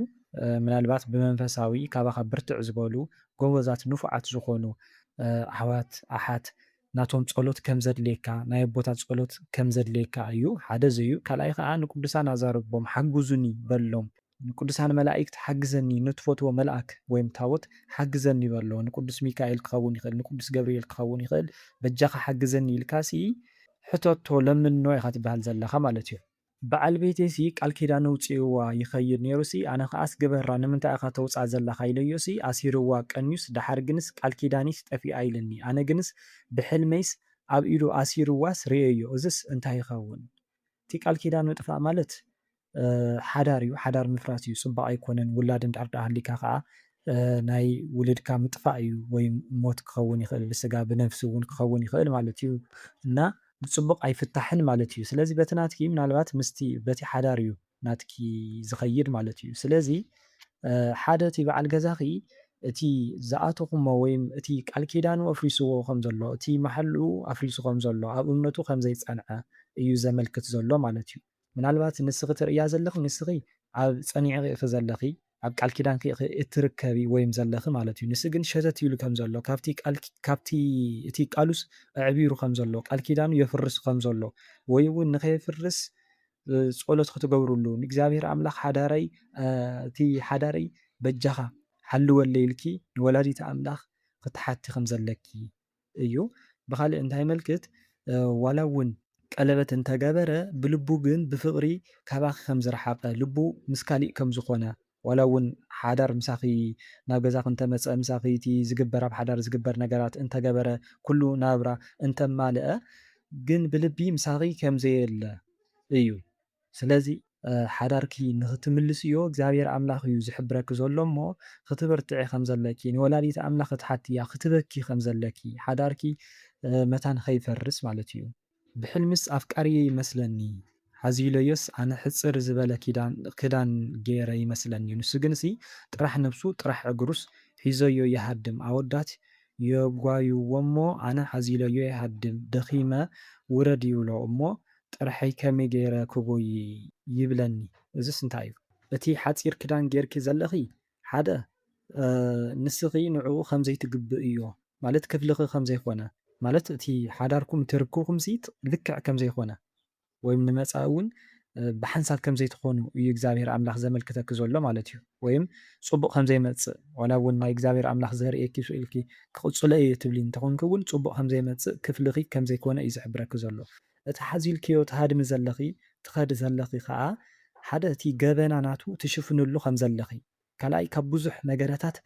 ምናልባት ብመንፈሳዊ ካባኻ ብርትዕ ዝበሉ ጎበዛት ንፉዓት ዝኾኑ ኣሕዋት ኣሓት ናቶም ጸሎት ከም ዘድልየካ ናይ ኣቦታት ጸሎት ከም ዘድልየካ ኣዩ ሓደ ዘዩ ካልኣይ ከኣ ንቅዱሳን ኣዛርቦም ሓግዙኒ በሎም ንቅዱሳን መላኢክት ሓግዘኒ ንትፈትዎ መልኣክ ወይም ታቦት ሓግዘኒ በሎ ንቅዱስ ሚካኤል ክከውን ይክእል ንቅዱስ ገብርኤል ክከውን ይክእል በጃካ ሓግዘኒ ኢልካሲ ሕተቶ ለምኖ ኢካ ትበሃል ዘለካ ማለት እዩ። ብዓል ቤተይሲ ቃል ኪዳን ኣውጺኡዋ ይኸይድ ኔሩሲ ኣነ ከኣስ ግበራ ንምንታይ ኢኻ ተውጽኣ ዘለኻ ኢለዮሲ ኣሲሩዋ ቀንዩስ ደሓር ግንስ ቃል ኪዳንይስ ጠፊኣ ኢልኒ ኣነ ግንስ ብሕልመይስ ኣብ ኢዱ ኣሲሩዋስ ሪኤዮ እዝስ እንታይ ይኸውን እቲ ቃል ኪዳን ምጥፋእ ማለት ሓዳር እዩ ሓዳር ምፍራስ እዩ ጽቡቕ ኣይኮነን ውላድ እንድሕር ድኣ ሃሊካ ከኣ ናይ ውልድካ ምጥፋእ እዩ ወይ ሞት ክኸውን ይኽእል ብስጋ ብነብሲ ውን ክኸውን ይኽእል ማለት እዩ እና ብጽቡቕ ኣይፍታሕን ማለት እዩ ስለዚ በቲ ናትኪ ምናልባት ምስቲ በቲ ሓዳር እዩ ናትኪ ዝኸይድ ማለት እዩ ስለዚ ሓደ እቲ በዓል ገዛኺ እቲ ዝኣተኹሞ ወይም እቲ ቃል ኪዳኑ ኣፍሪስዎ ከም ዘሎ እቲ መሓልኡ ኣፍሪሱ ከም ዘሎ ኣብ እምነቱ ከም ዘይጸንዐ እዩ ዘመልክት ዘሎ ማለት እዩ። ምናልባት ንስኺ ትርእያ ዘለኺ ንስኺ ኣብ ጸኒዕኺ ኢኺ ዘለኺ ኣብ ቃል ኪዳንኪ ኢኺ እትርከቢ ወይም ዘለኺ ማለት እዩ ንሱ ግን ሸተት ኢሉ ከም ዘሎ ካብቲ ቃል ካብቲ እቲ ቃሉስ ኣዕቢሩ ከም ዘሎ ቃል ኪዳኑ የፍርስ ከም ዘሎ ወይ እውን ንኸየፍርስ ጸሎት ክትገብርሉ ንእግዚኣብሔር ኣምላኽ ሓዳረይ እቲ ሓዳረይ በጃኻ ሓልወለይ ኢልኪ ንወላዲተ ኣምላኽ ክትሓቲ ከም ዘለኪ እዩ ብኻልእ እንታይመልክት ዋላ እውን ቀለበት እንተገበረ ብልቡ ግን ብፍቅሪ ካባኺ ከምዝረሓቀ ልቡ ምስ ካሊእ ከምዝኾነ ዋላ እውን ሓዳር ምሳኺ ናብ ገዛኺ እንተመፀ ምሳኺ እቲ ዝግበር ኣብ ሓዳር ዝግበር ነገራት እንተገበረ ኩሉ ናብራ እንተማለኣ ግን ብልቢ ምሳኺ ከምዘየለ እዩ ስለዚ ሓዳርኪ ንኽትምልስዮ እግዚኣብሄር ኣምላኽ እዩ ዝሕብረኪ ዘሎ እሞ ኽትብርትዒ ኸም ዘለኪ ንወላዲተ ኣምላኽ ኽትሓትያ ኽትበኪ ኸም ዘለኪ ሓዳርኪ መታን ኸይፈርስ ማለት እዩ። ብሕልምስ ኣፍቃሪየይ ይመስለኒ ሓዚለዮስ ኣነ ሕጽር ዝበለ ክዳን ጌረ ይመስለኒ ንሱ ግንሲ ጥራሕ ነብሱ ጥራሕ እግሩስ ሒዘዮ ይሃድም ኣወዳት የጓዩዎሞ ኣነ ሓዚለዮ ይሃድም ደኺመ ውረድ ይብሎ እሞ ጥርሐይ ከመይ ገይረ ክጎዪ ይብለኒ እዝስ እንታይ እዩ። እቲ ሓጺር ክዳን ጌርኪ ዘለኺ ሓደ ንስኺ ንዕኡ ከም ዘይትግብእዮ ማለት ክፍልኺ ከም ዘይኮነ ማለት እቲ ሓዳርኩም እቲ ርክብኩምሲ ልክዕ ከም ዘይኮነ ወይም ንመጻኢ እውን ብሓንሳብ ከም ዘይትኾኑ እዩ እግዚኣብሄር ኣምላኽ ዘመልክተኪ ዘሎ ማለት እዩ ወይም ጽቡቕ ከም ዘይመጽእ ዋላ እውን ናይ እግዚኣብሄር ኣምላኽ ዘርእየኪ ስእልኪ ክቕጽሎ እየ ትብሊ እንተኾንኪ እውን ጽቡቕ ከም ዘይመጽእ ክፍልኺ ከም ዘይኮነ እዩ ዝሕብረኪ ዘሎ እቲ ሓዚልክዮ ትሃድሚ ዘለኺ ትኸዲ ዘለኺ ከኣ ሓደ እቲ ገበና ናቱ ትሽፍንሉ ከም ዘለኺ ካልኣይ ካብ ብዙሕ ነገረታት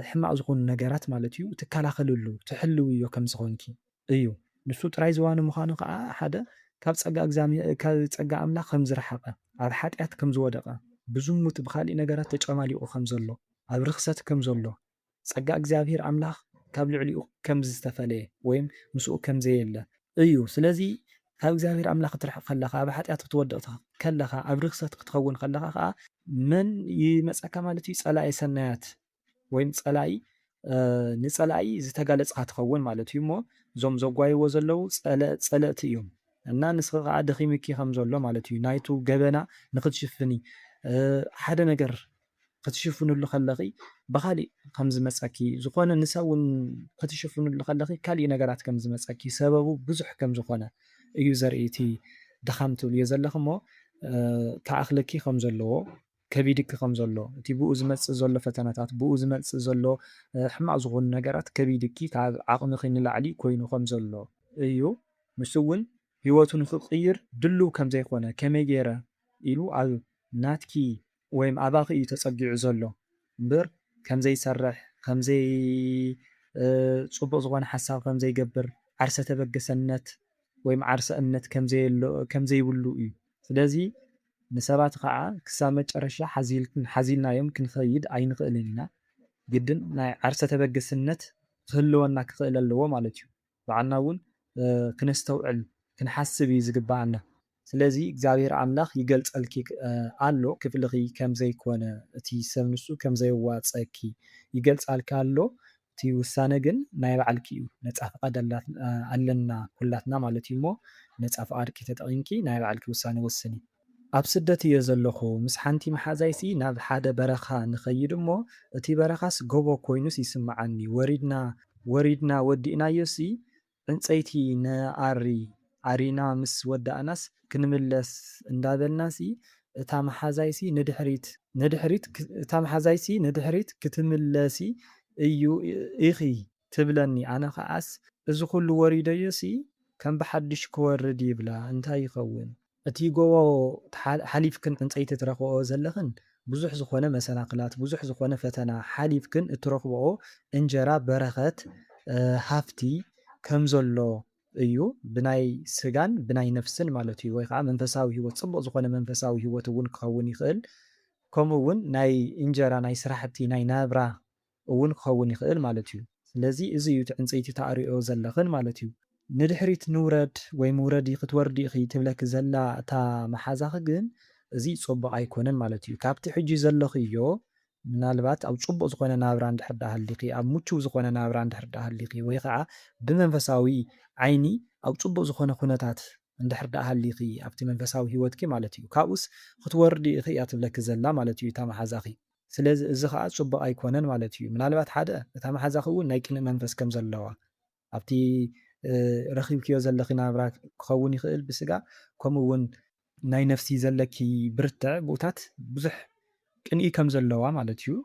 ሕማቅ ዝኾኑ ነገራት ማለት እዩ ትከላኸልሉ ትሕልውዮ ከም ዝኾንኪ እዩ ንሱ ጥራይ ዝዋኒ ምዃኑ ከኣ ሓደ ካብ ጸጋ እግዛምሄ ካብ ጸጋ ኣምላኽ ከም ዝረሓቀ ኣብ ሓጥያት ከም ዝወደቀ ብዝሙት ብኻሊእ ነገራት ተጨማሊቁ ከም ዘሎ ኣብ ርኽሰት ከም ዘሎ ጸጋ እግዚኣብሔር ኣምላኽ ካብ ልዕሊኡ ከም ዝተፈለየ ወይም ምስኡ ከም ዘየለ እዩ። ስለዚ ካብ እግዚኣብሔር ኣምላኽ ክትርሕቕ ከለኻ፣ ኣብ ሓጢኣት ክትወድቕ ከለኻ፣ ኣብ ርኽሰት ክትኸውን ከለኻ ከኣ መን ይመጸካ ማለት እዩ? ጸላኢ ሰናያት ወይም ጸላኢ ንጸላኢ ዝተጋለጽካ ትኸውን ማለት እዩ እሞ እዞም ዘጓይዎ ዘለዉ ጸለእቲ እዮም እና ንስኺ ከኣ ደኺምኪ ከም ዘሎ ማለት እዩ ናይቱ ገበና ንኽትሽፍኒ ሓደ ነገር ክትሽፍንሉ ከለኺ ብኻሊእ ከም ዝመጸኪ ዝኾነ ንሳ ውን ክትሽፍንሉ ከለኺ ካሊእ ነገራት ከም ዝመጸኪ ሰበቡ ብዙሕ ከም ዝኾነ እዩ ዘርኢ እቲ ድኻም ትብልዮ ዘለኺ እሞ ክኣኽለኪ ከም ዘለዎ ከቢድኪ ከም ዘሎ እቲ ብኡ ዝመጽእ ዘሎ ፈተነታት ብኡ ዝመጽእ ዘሎ ሕማቕ ዝኾኑ ነገራት ከቢድኪ ካብ ዓቕምኺ ንላዕሊ ኮይኑ ከም ዘሎ እዩ ንሱ ውን ሂወቱ ንኽቕይር ድሉው ከም ዘይኮነ ከመይ ጌረ ኢሉ ኣብ ናትኪ ወይም ኣባኺ እዩ ተጸጊዑ ዘሎ እምብር ከም ዘይሰርሕ ከም ዘይ ጽቡቅ ዝኾነ ሓሳብ ከም ዘይገብር ዓርሰ ተበገሰነት ወይም ዓርሰ እምነት ከም ዘየሎ ከም ዘይብሉ እዩ ስለዚ ንሰባት ኻኣ ክሳብ መጨረሻ ሓዚልክን ሓዚልናዮም ክንኸይድ ኣይንኽእልን ኢና ግድን ናይ ዓርሰ ተበገስነት ክህልወና ክኽእል ኣለዎ ማለት እዩ። ባዕልና እውን ክነስተውዕል ክንሓስብ እዩ ዝግበኣና ስለዚ እግዚኣብሔር ኣምላክ ይገልፀልኪ ኣሎ ክፍልኪ ከምዘይ ኮነ እቲ ሰብ ንሱ ከምዘየዋፀኪ ይገልፃልኪ ኣሎ እቲ ውሳነ ግን ናይ ባዕልኪ እዩ ነፃ ፍቃድ ኣለና ኩላትና ማለት እዩ እሞ ነፃ ፍቃድኪ ተጠቂምኪ ናይ ባዕልኪ ውሳነ ወስኒ። ኣብ ስደት እየ ዘለኹ ምስ ሓንቲ መሓዛይሲ ናብ ሓደ በረኻ ንኸይድ እሞ እቲ በረኻስ ጎቦ ኮይኑስ ይስመዓኒ ወሪድና ወሪድና ወዲእናዮሲ ዕንጸይቲ ንኣሪ ኣሪና ምስ ወዳእናስ ክንምለስ እንዳበልናሲ እታ መሓዛይሲ ንድሕሪት ንድሕሪት እታ መሓዛይሲ ንድሕሪት ክትምለሲ እዩ ኢኺ ትብለኒ ኣነ ኸኣስ እዚ ኹሉ ወሪደዮሲ ከም ብሓድሽ ክወርድ ይብላ እንታይ ይኸውን እቲ ጎቦ ሓሊፍክን ዕንጸይቲ ትረኽብኦ ዘለኽን ብዙሕ ዝኾነ መሰናኽላት ብዙሕ ዝኾነ ፈተና ሓሊፍክን እትረኽብኦ እንጀራ በረኸት ሃፍቲ ከም ዘሎ እዩ ብናይ ስጋን ብናይ ነፍስን ማለት እዩ ወይ ከኣ መንፈሳዊ ሂወት ጽቡቕ ዝኾነ መንፈሳዊ ሂወት እውን ክኸውን ይኽእል ከምኡ እውን ናይ እንጀራ ናይ ስራሕቲ ናይ ናብራ እውን ክኸውን ይኽእል ማለት እዩ። ስለዚ እዚ እዩ እቲ ዕንጸይቲ ትኣርይኦ ዘለኽን ማለት እዩ። ንድሕሪት ንውረድ ወይ ምውረዲ ክትወርዲ ኢኺ ትብለኪ ዘላ እታ መሓዛኺ ግን እዚ ጸቡቕ ኣይኮነን ማለት እዩ። ካብቲ ሕጂ ዘለኽዮ ምናልባት ኣብ ጽቡቕ ዝኾነ ናብራ እንድሕር ድኣ ሃሊኺ፣ ኣብ ምቹው ዝኾነ ናብራ እንድሕር ድኣ ሃሊኺ ወይ ኸኣ ብመንፈሳዊ ዓይኒ ኣብ ጽቡቕ ዝኾነ ኩነታት እንድሕር ድኣ ሃሊኺ ኣብቲ መንፈሳዊ ህይወትኪ ማለት እዩ ካብኡስ ክትወርዲ ኢኺ እያ ትብለኪ ዘላ ማለት እዩ እታ መሓዛኺ። ስለዚ እዚ ኸኣ ጽቡቕ ኣይኰነን ማለት ኢዩ። ምናልባት ሓደ እታ መሓዛኺ እውን ናይ ቅንእ መንፈስ ከም ዘለዋ ኣብቲ ረኺብክዮ ዘለኺ ናብራ ክኸውን ይኽእል ብስጋ ከምኡ እውን ናይ ነፍሲ ዘለኪ ብርትዐ ብኡታት ብዙሕ ቅንኢ ከም ዘለዋ ማለት ኢዩ።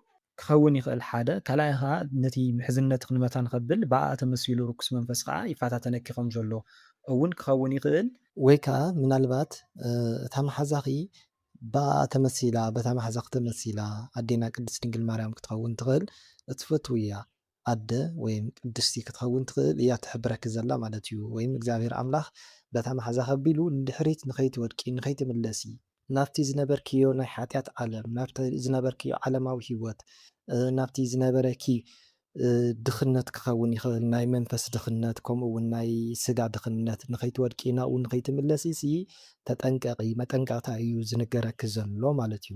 ክኸውን ይኽእል ሓደ። ካልኣይ ኸኣ ነቲ ምሕዝነትኺ ንመታን ከብል ብኣኣ ተመሲሉ ርኩስ መንፈስ ኸኣ ይፈታተነኪ ከም ዘሎ እውን ክኸውን ይኽእል። ወይ ከኣ ምናልባት እታ መሓዛኺ ብኣኣ ተመሲላ በታ ማሕዛኪ ተመሲላ ኣዴና ቅድስት ድንግል ማርያም ክትከውን ትክእል እትፈትውያ ኣደ ወይም ቅድስቲ ክትከውን ትክእል እያ ትሕብረኪ ዘላ ማለት እዩ ወይም እግዚኣብሔር ኣምላክ በታ ማሕዛኪ ኣቢሉ ንድሕሪት ንከይትወድቂ ንከይትምለሲ ናብቲ ዝነበርክዮ ናይ ሓጢኣት ዓለም ናብቲ ዝነበርክዮ ዓለማዊ ሂወት ናብቲ ዝነበረኪ ድኽነት ክኸውን ይኽእል፣ ናይ መንፈስ ድኽነት ከምኡ እውን ናይ ስጋ ድኽነት፣ ንኸይትወድቂ ናብኡ ንኸይትምለሲሲ ተጠንቀቒ፣ መጠንቀቕታ እዩ ዝንገረኪ ዘሎ ማለት እዩ።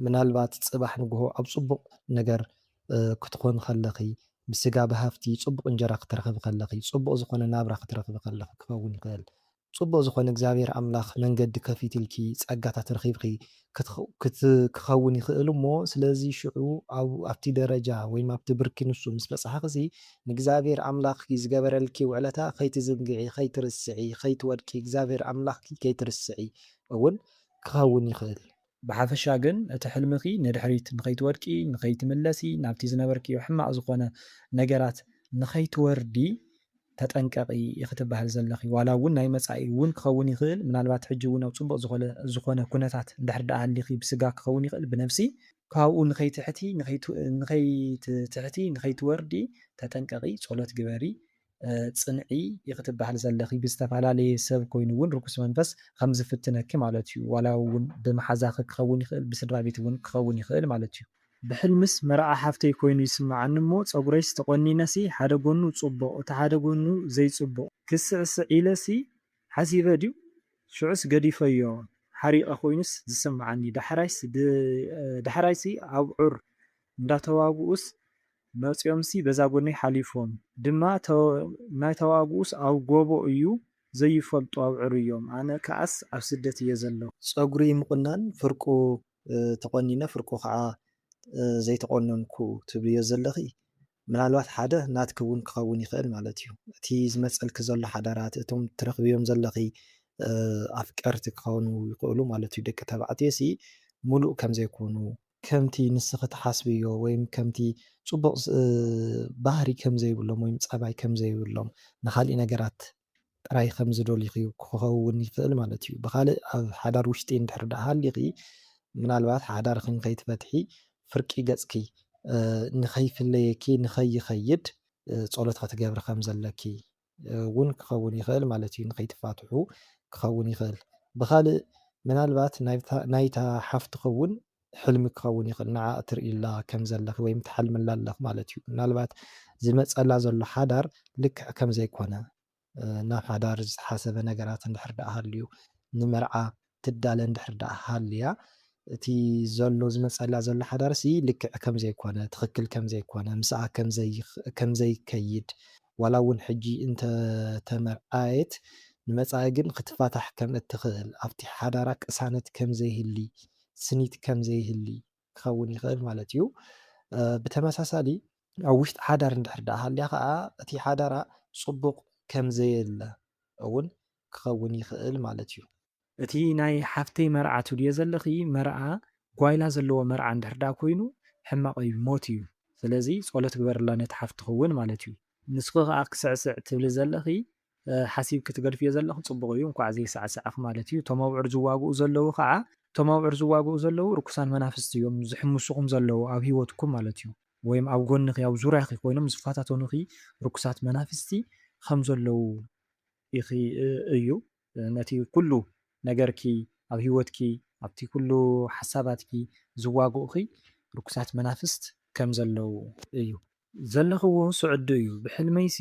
ምናልባት ጽባሕ ንግሆ ኣብ ጽቡቕ ነገር ክትኾኒ ከለኺ፣ ብስጋ ብሃፍቲ ጽቡቕ እንጀራ ክትረኽቢ ከለኺ፣ ጽቡቕ ዝኾነ ናብራ ክትረኽቢ ከለኺ ክኸውን ይኽእል። ጽቡቅ ዝኮነ እግዚኣብሔር ኣምላክ መንገዲ ከፊትልኪ ጸጋታት ረኪብኪ ክከውን ይክእል እሞ ስለዚ ሽዑ ኣብቲ ደረጃ ወይም ኣብቲ ብርኪ ንሱ ምስ በጻሕክሲ ንእግዚኣብሔር ኣምላክኪ ዝገበረልኪ ውዕለታ ከይትዝንግዒ ከይትርስዒ ከይትወድቂ እግዚኣብሔር ኣምላክኪ ከይትርስዒ እውን ክከውን ይክእል ብሓፈሻ ግን እቲ ሕልምኺ ንድሕሪት ንኸይትወድቂ፣ ንኸይትምለሲ፣ ናብቲ ዝነበርክዮ ሕማቕ ዝኾነ ነገራት ንኸይትወርዲ ተጠንቀቒ ኢኺ ትበሃሊ ዘለኺ። ዋላ እውን ናይ መጻኢ እውን ክኸውን ይኽእል፣ ምናልባት ሕጂ እውን ኣብ ጽቡቕ ዝኾነ ኩነታት እንድሕር ደኣ ሃሊኺ ብስጋ ክኸውን ይኽእል ብነብሲ፣ ካብኡ ንኸይትሕቲ ንኸይትትሕቲ ንኸይትወርዲ ተጠንቀቒ፣ ጸሎት ግበሪ፣ ጽንዒ ኢኺ ትበሃሊ ዘለኺ ብዝተፈላለየ ሰብ ኮይኑ ውን ርኩስ መንፈስ ከም ዝፍትነኪ ማለት ዩ ዋላ ውን ብመሓዛኺ ክኸውን ይኽእል ብስድራቤት ውን ክኸውን ይኽእል ማለት ዩ። ብሕልምስ መርዓ ሓፍተይ ኮይኑ ይስምዓኒ እሞ ጸጉረይስ ተቖኒነሲ ሓደ ጎኑ ጽቡቕ እቲ ሓደ ጎኑ ዘይጽቡቕ ክስዕስዕ ኢለሲ ሓሲበ ድዩ ሽዑስ ገዲፈዮ ሓሪቐ ኮይኑስ ዝስምዓኒ ዳሕራይስ ዳሕራይሲ ኣብዑር እንዳተዋግኡስ መጺኦምሲ በዛ ጎነይ ሓሊፎም ድማ ናይ ተዋግኡስ ኣብ ጎቦ እዩ ዘይፈልጡ ኣብዕርዮም ኣነ ክኣስ ኣብ ስደት እየ ዘለኩ። ጸጉሪ ምቁናን ፍርቁ ተቆኒነ ፍርቁ ክዓ ዘይተቆነንኩ ትብልዮ ዘለኺ ምናልባት ሓደ ናትኪ ውን ክኸውን ይኽእል ማለት እዩ እቲ ዝመጸልኪ ዘሎ ሓዳራት እቶም ትረኽብዮም ዘለኺ ኣፍቀርቲ ክኾኑ ይኽእሉ ማለት እዩ ደቂ ተባዕትዮ ሲ ሙሉእ ከምዘይኮኑ ከምቲ ንስኺ ትሓስብዮ ወይም ከምቲ ጽቡቕ ባህሪ ከም ዘይብሎም ወይም ጸባይ ከም ዘይብሎም ንኻልእ ነገራት ጥራይ ከም ዝደልዩኺ ክኸውን ይኽእል ማለት እዩ። ብኻልእ ኣብ ሓዳር ውሽጢ እንድሕር ደኣ ሃሊኺ ምናልባት ሓዳርኺ ንኸይትፈትሒ ፍርቂ ገጽኪ ንኸይፍለየኪ ንኸይኸይድ ጸሎት ክትገብሪ ከም ዘለኪ ውን ክኸውን ይኽእል ማለት እዩ ንኸይትፋትሑ ክኸውን ይኽእል ብኻልእ ምናልባት ናይታ ሓፍትኺ ውን ሕልሚ ክኸውን ይኽእል ንዓ እትርእይላ ከም ዘለኺ ወይም ትሓልምላ ኣለኺ ማለት እዩ ምናልባት ዝመጸላ ዘሎ ሓዳር ልክዕ ከም ዘይኮነ ናብ ሓዳር ዝተሓሰበ ነገራት እንድሕር ድኣ ሃልዩ ንመርዓ ትዳለ እንድሕር ደኣ ሃልያ፣ እቲ ዘሎ ዝመጸላ ዘሎ ሓዳርሲ ልክዕ ከም ዘይኮነ፣ ትኽክል ከም ዘይኮነ፣ ምስኣ ከም ዘይከይድ፣ ዋላ እውን ሕጂ እንተ ተመርዓየት ንመጻኢ ግን ክትፋታሕ ከም እትኽእል፣ ኣብቲ ሓዳራ ቅሳነት ከም ዘይህሊ፣ ስኒት ከም ዘይህሊ፣ ክኸውን ይኽእል ማለት እዩ። ብተመሳሳሊ ኣብ ውሽጢ ሓዳር እንድሕር ደኣ ሃልያ ከዓ እቲ ሓዳራ ጽቡቕ ከም ዘየለ እውን ክኸውን ይኽእል ማለት እዩ። እቲ ናይ ሓፍተይ መርዓ ትብልዮ ዘለኺ መርዓ ጓይላ ዘለዎ መርዓ እንድሕር ደኣ ኮይኑ ሕማቕ እዩ ሞት እዩ ስለዚ ጸሎት ግበርላ ነቲ ሓፍትኺ እውን ማለት እዩ። ንስኺ ከዓ ክስዕስዕ ትብሊ ዘለኺ ሓሲብኪ ትገድፍዮ ዘለኺ ጽቡቕ እዩ እንኳዕ ዘይሳዕሳዕኺ ማለት እዩ እቶም ኣብዑር ዝዋግኡ ዘለዉ ከኣ እቶም ኣብዑር ዝዋግኡ ዘለዉ ርኩሳን መናፍስቲ እዮም ዝሕምሱኹም ዘለዉ ኣብ ሂወትኩም ማለት እዩ ወይም ኣብ ጎንኺ ኣብ ዙርያኺ ኮይኖም ዝፈታተኑኺ ርኩሳት መናፍስቲ ከም ዘለዉ ኢኺ እዩ ነቲ ኩሉ ነገርኪ ኣብ ሂወትኪ ኣብቲ ኩሉ ሓሳባትኪ ዝዋግኡኺ ርኩሳት መናፍስት ከም ዘለዉ እዩ። ዘለኽዎ ስዑዲ እዩ ብሕልመይሲ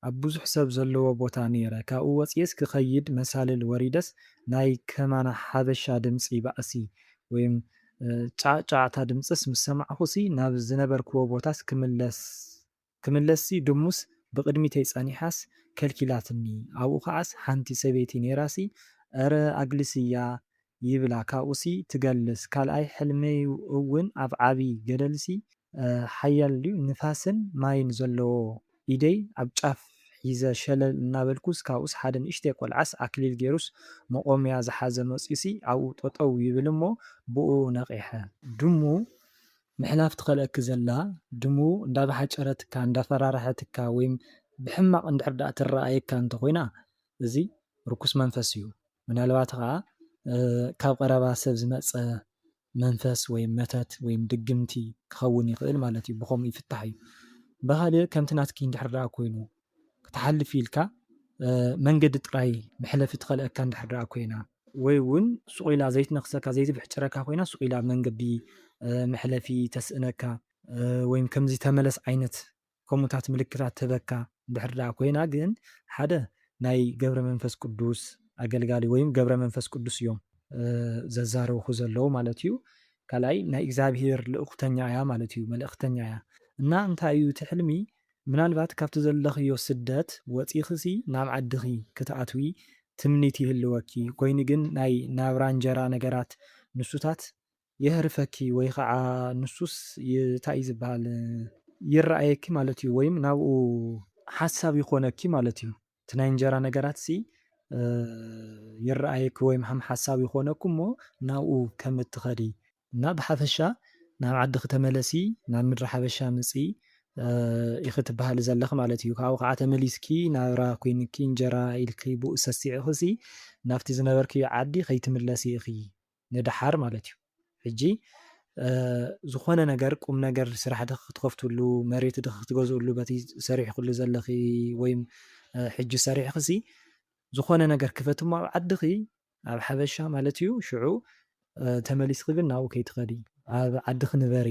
ኣብ ብዙሕ ሰብ ዘለዎ ቦታ ነይረ ካብኡ ወጺኤስ ክኸይድ መሳልል ወሪደስ ናይ ከማና ሓበሻ ድምጺ ባእሲ ወይም ጫዕጫዕታ ድምጽስ ምስ ሰማዕኹሲ ናብ ዝነበርክዎ ቦታስ ክምለስሲ ድሙስ ብቕድሚተይ ጸኒሓስ ከልኪላትኒ ኣብኡ ከዓስ ሓንቲ ሰበይቲ ነይራሲ እረ ኣግልስያ ይብላ ካብኡሲ ትገልስ ካልኣይ ሕልመይ እውን ኣብ ዓቢ ገደልሲ ሓያል ንፋስን ማይን ዘለዎ ኢደይ ኣብ ጫፍ ሒዘ ሸለል እናበልኩስ ካብኡስ ሓደ ንእሽተይ ቆልዓስ ኣክሊል ጌሩስ መቖምያ ዝሓዘ መጽዩሲ ኣብኡ ጠጠው ይብል እሞ ብኡ ነቒሐ ድሙ ምሕላፍ ትኸልኣኪ ዘላ ድሙ እንዳበሓጨረትካ እንዳፈራረሐትካ ወይም ብሕማቕ እንድሕር ድኣ ትረኣየካ እንተኾይና እዚ ርኩስ መንፈስ እዩ ምናልባት ኸኣ ካብ ቐረባ ሰብ ዝመጸ መንፈስ ወይም መተት ወይም ድግምቲ ክኸውን ይኽእል ማለት እዩ ብኸምኡ ይፍታሕ እዩ። ብኻልእ ከምቲ ናትኪ እንድሕር ደኣ ኮይኑ ክትሓልፊ ኢልካ መንገዲ ጥራይ መሕለፊ ትኸልኣካ እንድሕር ደኣ ኮይና፣ ወይ እውን ሱቕ ኢላ ዘይትነኽሰካ ዘይትብሕጭረካ ኮይና ሱቕ ኢላ ኣብ መንገዲ መሕለፊ ተስእነካ ወይም ከምዚ ተመለስ ዓይነት ከምኡታት ምልክታት ትህበካ እንድሕር ደኣ ኮይና ግን ሓደ ናይ ገብረ መንፈስ ቅዱስ ኣገልጋሊ ወይም ገብረ መንፈስ ቅዱስ እዮም ዘዛረብኹ ዘለዉ ማለት እዩ ካልኣይ ናይ እግዚኣብሄር ልእኹተኛ እያ ማለት እዩ መልእኽተኛ እያ እና እንታይ እዩ እቲ ሕልሚ ምናልባት ካብቲ ዘለኽዮ ስደት ወጺኽሲ ናብ ዓድኺ ክትኣትዊ ትምኒት ይህልወኪ ኮይኑ ግን ናይ ናብራ እንጀራ ነገራት ንሱታት የህርፈኪ ወይ ኸዓ ንሱስ ታይ ዝብሃል ይረኣየኪ ማለት እዩ ወይም ናብኡ ሓሳብ ይኾነኪ ማለት እዩ እቲ ናይ እንጀራ ነገራትሲ ይረኣየኪ ወይም ሃም ሓሳብ ይኾነኪ እሞ ናብኡ ከም እትኸዲ እና ብሓፈሻ ናብ ዓድኺ ተመለሲ ናብ ምድሪ ሓበሻ ምፅኢ ኢኺ ትብሃሊ ዘለኺ ማለት እዩ ካብኡ ኸዓ ተመሊስኪ ናብራ ኮይንኪ እንጀራ ኢልኪ ብኡ ሰሲዕኺሲ ናብቲ ዝነበርክዮ ዓዲ ከይትምለሲ ኢኺ ንደሓር ማለት እዩ ሕጂ ዝኾነ ነገር ቁም ነገር ስራሕ ድክ ክትከፍትሉ መሬት ድክ ክትገዝእሉ በቲ ሰሪሕክሉ ዘለኺ ወይ ሕጂ ሰሪሕክሲ ዝኾነ ነገር ክፈቲ እሞ ኣብ ዓድኺ ኣብ ሓበሻ ማለት እዩ ሽዑ ተመሊስኺ ግን ናብኡ ከይትኸዲ ኣብ ዓድኺ ንበሪ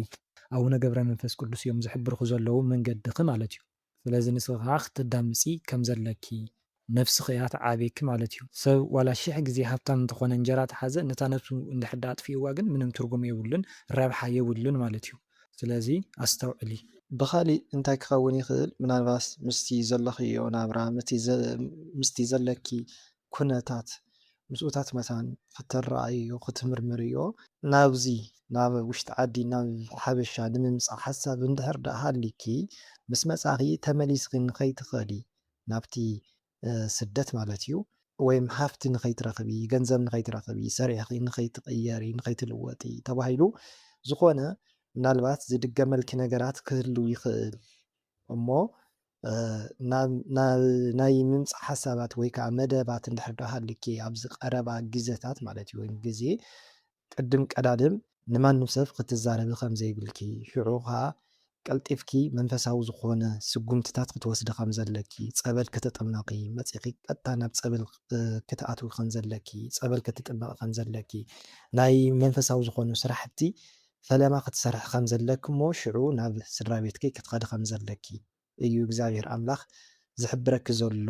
ኣቡነ ገብረ መንፈስ ቅዱስ እዮም ዝሕብርኩ ዘለዉ መንገድኺ ማለት እዩ ስለዚ ንስኺ ከኣ ክትዳምጺ ከም ዘለኪ ነብስኺ እያ ትዓብየኪ ማለት እዩ። ሰብ ዋላ ሽሕ ግዜ ሃብታም እንተኾነ እንጀራ ተሓዘ ነታ ነብሱ እንድሕር ደኣ ኣጥፊእዋ ግን ምንም ትርጉም የብሉን ረብሓ የብሉን ማለት እዩ። ስለዚ ኣስተውዕሊ። ብኻሊእ
እንታይ ክኸውን ይኽእል ምናልባስ ምስቲ ዘለኽዮ ናብራ ምስቲ ዘለኪ ኩነታት ምስኡታት መታን ክትረኣይዮ ክትምርምርዮ፣ ናብዚ ናብ ውሽጢ ዓዲ ናብ ሓበሻ ንምምጻእ ሓሳብ እንድሕር ደኣ ሃልዩኪ፣ ምስ መጻኺ ተመሊስኺ ንኸይትኸዲ ናብቲ ስደት ማለት'ዩ፣ ወይም ሃፍቲ ንኸይትረኽቢ፣ ገንዘብ ንኸይትረኽቢ፣ ሰሪሕኺ ንኸይትቕየሪ፣ ንኸይትልወጢ ተባሂሉ ዝኾነ ምናልባት ዝድገመልኪ ነገራት ክህሉ ይኽእል እሞ ናይ ምምጻእ ሓሳባት ወይ ከኣ መደባት እንድሕር ዶ ሃልዩኪ ኣብዚ ቀረባ ግዘታት ማለት እዩ ወይ ግዜ ቅድም ቀዳድም ንማንም ሰብ ክትዛረቢ ከም ዘይብልኪ ሽዑ ከኣ ቀልጢፍኪ መንፈሳዊ ዝኾነ ስጉምትታት ክትወስዲ ከም ዘለኪ ጸበል ክትጥመቂ መጺኺ ቀጥታ ናብ ጸበል ክትኣትዊ ከም ዘለኪ ጸበል ክትጥመቂ ከም ዘለኪ ናይ መንፈሳዊ ዝኾኑ ስራሕቲ ፈለማ ክትሰርሒ ከም ዘለኪ እሞ ሽዑ ናብ ስድራቤትኪ ክትኸዲ ከም ዘለኪ እዩ እግዚኣብሄር ኣምላኽ ዝሕብረኪ ዘሎ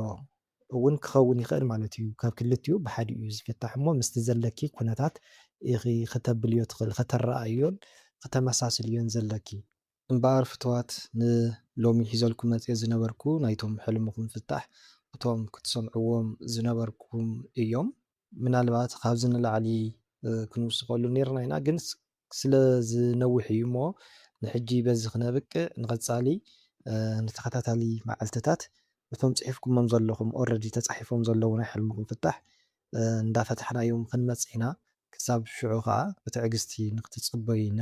እውን ክኸውን ይኽእል ማለት እዩ ካብ ክልቲኡ ብሓዲኡ እዩ ዝፍታሕ እሞ ምስቲ ዘለኪ ኩነታት ኢኺ ክተብልዮ ትኽእሊ ከተረኣእዮን ክተመሳስልዮን ዘለኪ እምበኣር ፍትዋት ን ሎሚ ሒዘልኩም መጽየ ዝነበርኩ ናይቶም ሕልምኹም ፍታሕ እቶም ክትሰምዕዎም ዝነበርኩም እዮም። ምናልባት ካብዚ ንላዕሊ ክንውስኸሉ ኔርና ኢና ግን ስለ ዝነውሕ እዩ እሞ ንሕጂ በዚ ክነብቅዕ ንቐጻሊ ንተኸታታሊ መዓልትታት እቶም ጽሒፍኩሞም ዘለኹም ኦረዲ ተጻሒፎም ዘለዉ ናይ ሕልምኹም ፍታሕ እንዳፈታሕናዮም ክንመጽእ ኢና ክሳብ ሽዑ ከኣ ብትዕግስቲ ንክትጽበዩና